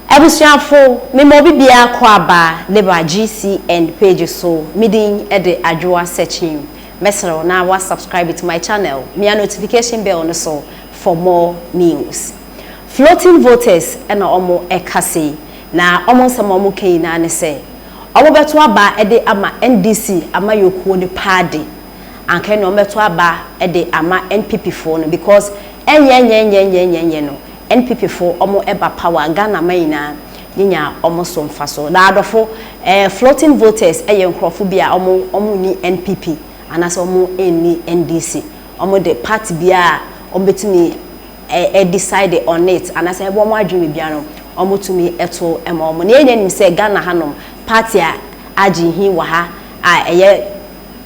Abusuafo, me ma obi biara kɔ aba de ba GCN page so, me din de Adwoa Sekyim. Mɛsrɛ wo na wa subscribe to my channel, mia notification bell no so for more news. Floating voters na ɔmo ɛka sei, na ɔmo nsɛm a ɔmo ka nyinaa ne sɛ, ɔmo bɛto aba de ama NDC amayɔkuo no paa de, anka ɛnna ɔmo bɛto aba de ama NPP foɔ no, because ɛnyɛ nyɛ nyɛ nyɛ nyɛ nyɛ no, NPP fo ɔmo ɛba power Ghana man nyinaa nye nya ɔmo so mfaso na adɔfo ɛɛ floating voters ɛyɛ nkorɔfo bi a ɔmo ɔmo nni NPP anasɛ ɔmo nni NDC ɔmo de party biaa ɔmo betumi ɛɛ decide on it anasɛ ɛbɔ ɔmo adwene wɔ biaa no ɔmo tumi ɛto ɛma ɔmo na yɛn nyinaa nim sɛ Ghana ha nom party a agye hin wɔ ha a ɛyɛ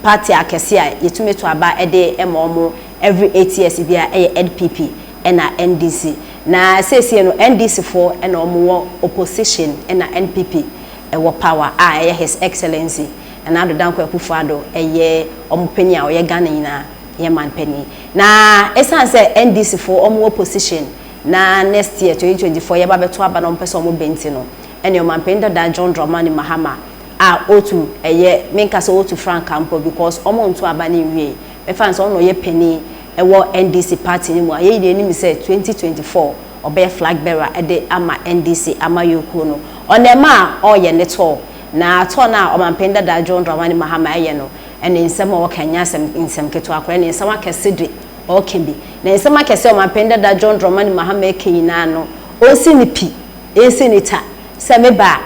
party akɛse a yɛtumi to aba ɛde ɛma ɔmo every eight years biaa ɛyɛ NPP. na NDC na seesei no NDC foɔ na wɔn wɔ opposition na NPP wɔ power a ɛyɛ his excellency Nana Addo Dankwa Akufo Addo yɛ wɔn panin a ɔyɛ Ghana nyinaa yɛ man panin na ɛsiane sɛ NDC foɔ wɔn wɔ position na next year 2024 yɛba bɛto aba na wɔn pɛ sɛ wɔn bɛ nti no ɛne ɔman panin dada John Dramani Mahama a otu ɛyɛ menka sɛ otu frankaa mpo because wɔn nto aba ne nwie mɛfa ne sɛ wɔn na ɔyɛ panin ɛwɔ NDC party no mu a yɛn nyinaa nim sɛ 2024 ɔbɛyɛ flag bearer de ama NDC amayɔkuo no. Ɔnɛɛma a ɔreyɛ ne tour, na tour no a ɔmanpanin dada John Dramani Mahama reyɛ no, ne nsɛm a ɔreka nyɛ asɛm nsɛm ketewa koraa, ne nsɛm akɛse de ɔreka bi. Na nsɛm akɛse a ɔmanpanin dada John Dramani Mahama reka nyinaa no, ɔnsi ne pi, ɛnsi ne ta sɛ meba a,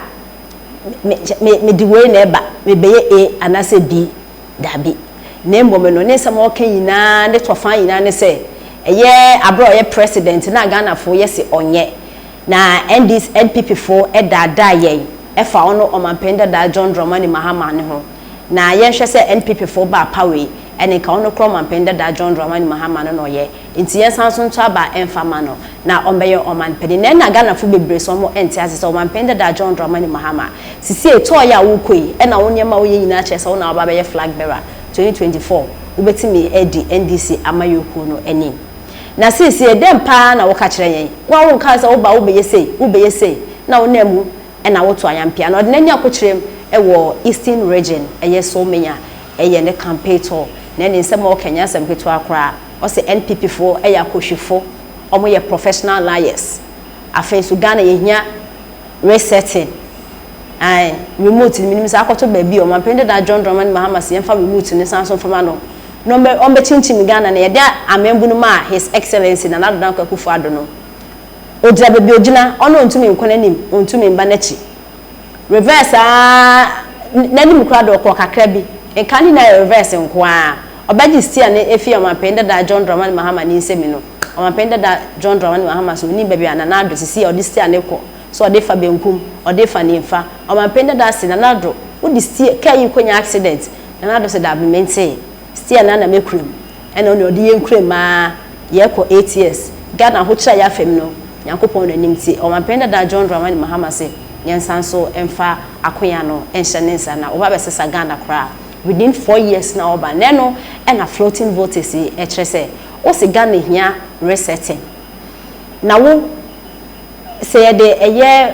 me, me, me, mede wei na ɛba, mebɛyɛ A anaasɛ B. Dabi, na mmom no, ne nsɛm a ɔka nyinaa, ne tɔfã nyinaa ne sɛ, ɛyɛ bere a ɔyɛ President no a Ghanafo yɛ se ɔnyɛ, na NDC, NPP fo daadaa yɛn ɛfa ɔno Ɔmanpanyin dadaa John Dramani Mahama no ho. Na yɛnhwɛ sɛ NPP fo baa power yi, ɛne nka ɔno koraa Ɔmanpanyin dadaa John Dramani Mahama no na ɔyɛ. Nti yɛnsan so nto aba mfa mma no na ɔmbɛyɛ ɔman panyin. Na nna Ghanafo bebree so ɔmo nte ase sɛ ɔman panyin dada John Dramani Mahama. Sisiei tɔɔ yɛ a wo kɔ yi ɛna wo nneɛma a wo yɛ nyinaa kyerɛ sɛ wo na waba abɛyɛ flag bearer 2024 wo bɛtumi adi NDC amayɔkuo no anim. Na sisiei dɛn paa na wo ka kyerɛ yɛn? Wo a wo nkaa sɛ wo ba wo bɛyɛ sei, wo bɛyɛ sei na wo nam mu ɛna wo to ayampia. Na ɔde n'ani akokyerem ɛwɔ Eastern Region ɛyɛ Solmenya ɛyɛ ne campaign tour na ɛne nsɛm a ɔka nyɛ asɛm ketewa koraa. Ɔse NPP foɔ yɛ akohwifo, ɔmo yɛ professional liars. Afei nso Ghana yɛhia resetting, ae, remote no menim sɛ akɔto baabi o, Ɔmanpanin Dadaa John Dramani Mahama se yɛmfa remote no nsan so mfa ma no na ɔmmɛ ɔmmɛkyinkyim Ghana na yɛde amem bu no ma His Excellency Nana Addo Dankwa Akufo-Addo no. Ogyina baabi a ogyina, ɔno ontumi nkɔ n'anim, ontumi mma n'akyi. reverse ara n'anim koraa de ɔkɔɔ kakra bi. Nka ne nyinaa yɛ reverse nko ara. Ɔbɛgye steer no afii Ɔmanpanyin Dada John Dramani Mahama ne nsam no, Ɔmanpanyin Dada John Dramani Mahama sɛ onnim baabi a Nana Addo te, seesei a ɔde steer no rekɔ, sɛ ɔde refa benkum, ɔde refa nimfa. Ɔmanpanyin Dada se, Nana Addo, wode steer, kaa yi rekɔnya accident? Nana Addo se, Dabi, mentee. Steer no ara na mekura mu. Ɛna ɔne ɔde yɛn kura mu aa yɛɛkɔ eight years. Ghana ahokyerɛ a yɛafɛ mu no, Nyankopɔn na nim. Nti Ɔmanpanin Dada John Dramani Mahama se yɛnsan nso mfa akonya no nhyɛ ne nsa na wɔba bɛsesa Ghana koraa. Within four years na ɔba. Na ɛno na floating votes yi ɛkyerɛ sɛ wose Ghana hia resetting. Na wo sɛ yɛde ɛyɛ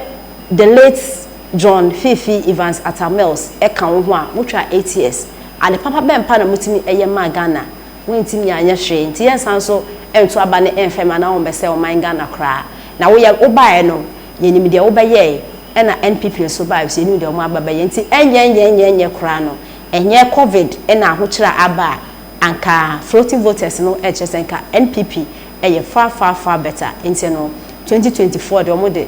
the late. John Fifi Evans Atta Mills ɛka wo ho a wo twa eight years ade papa bɛn pa na mo tumi ɛyɛ maa Ghana wo ntimi anyɛ hwee nti yɛn san so nto aba ne ɛnfɛm anaa wɔn bɛsɛe ɔman Ghana koraa na wo yɛ wo baeɛ no yɛ nim deɛ wo bɛyɛɛ ɛna NPP nso baeɛ nso yɛ nim deɛ wɔn aba bɛyɛ nti ɛnyɛ nyɛ nyɛ nyɛ koraa no ɛnyɛ covid ɛna ahokyerɛ a aba a anka floating voters no ɛkyerɛ sɛ nka NPP ɛyɛ far far far better nti no twenty twenty four deɛ wɔn de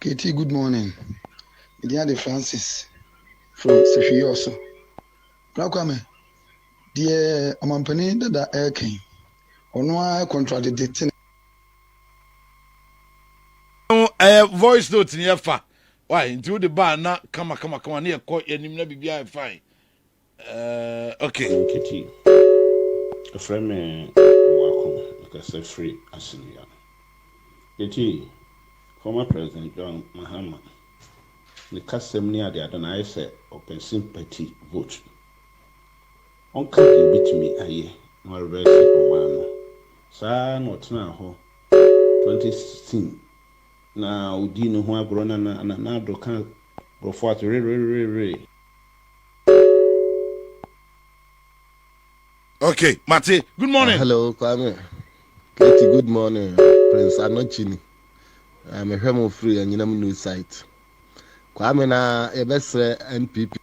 Katie good morning me din ade Francis from sehwiye ɔso bra kwame deɛ ɔmampanin dada ɛɛka yi ɔno ara contract de te no ɛyɛ voice note ni ɛfa why nti wode baa na kama kama kama ne ɛkɔ yɛnim na biribiara ɛfae Eh, okay. Nketii, ɛfrɛ me Moako, mekasa firi Assinniah. Nketii, former President John Mahama, ne kasam ne adeade no ayɛ sɛ ɔpɛ sympathy vote. Ɔnka deɛ ɔbɛtumi ayɛ na wareverse ɔman no. Saa ara na ɔtenaa hɔ 2016 na ɔdii ne ho agorɔ na Nana Addo ka Nkurɔfoɔ ase wererere. okay mate good morning uh, hello kwame katie good morning prince anochini uh, mehwɛ mo firi anyinam new site kwame na yɛbɛsrɛ npp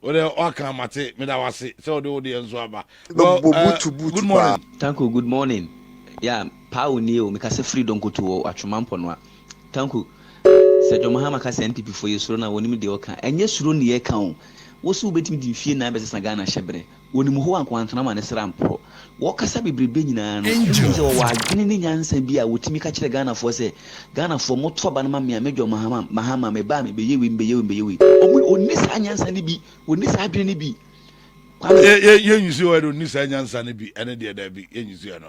Wo deɛ woaka mate meda wo ase sɛ wode wo deɛ nso aba. Well eh, good morning. Tanku good morning yeah paa wo nie o me kasa firi donkoto wɔ atwoma mpɔnoa tanku sɛ John Mahama ka sɛ NPP foɔ yɛ suro no a wɔnim deɛ ɔka ɛnyɛ suro ne yɛ ka o wo se wo bɛtumi de mfie nan bɛsesa Ghana hyɛ berɛ Wɔnim Hɔ ankoantenam a ne sra mporɔ. Wɔkasa bebrebe nyinaa no, ɛmu te sɛ wɔwɔ adwene ne nyansa bi a wɔtumi ka kyerɛ Ghanafoɔ sɛ, Ghanafoɔ moto aba no ma me a, mɛdwɔn Mahama, Mahama, meba a mebɛyɛ wei, mebɛyɛ wei, mebɛyɛ wei. Wɔn, wɔnni saa nyansa no bi, wɔnni saa adwene no bi. Kwame. Yɛ, yɛ, yɛnsusuɛ no, ɔnni saa nyansa no bi, ɛno deɛ, daabi, yɛnsusuɛ no.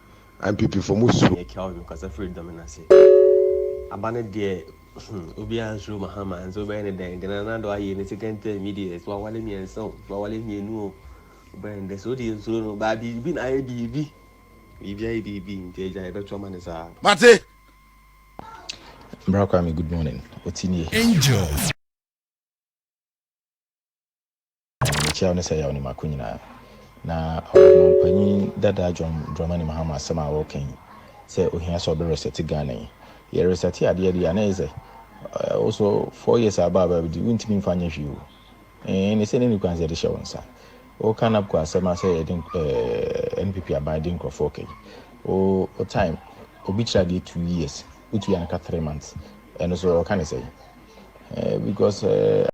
Ampipifo mo suro. Ɛyɛ Kelvin kasa firi dɔ me no ase. Aba no deɛ hmm obiara nsuro Mahama nso wobɛyɛ no dɛn dɛn na na dɔ ayɛ ne second term yi deɛ so awale mmiɛnsa o so awale mmienu o wobɛyɛ no dɛn so wode nsuro no baa biribi na ayɛ biribi biribi ayɛ biribi nti agya yɛbɛto ama no saa. Mate. Bra Kwame good morning. Ɔte nie. Angel. Na mekyia wo ne sɛ yaw ne mako nyinaa. Na Ɔmanpanyin dada John Dramani Mahama asɛm a ɔreka yi sɛ ohia sɛ ɔbɛresɛte Ghana yi, yɛresɛte adeɛ deɛ a na ɛyɛ sɛ wo nso four years a aba aba bi wontumi mfa nyɛ hwee o. Ee ne sɛ ne nni kwan sɛ yɛde hyɛ wo nsa. Woka NABCO asɛm a sɛ yɛde ɛɛ NPP aban de nkurɔfoɔ ka yi, wo wo time obi kyerɛ adeɛ two years, wotua no ka three months, ɛno nso ɔreka ne sɛn? Ɛɛ because ɛɛ.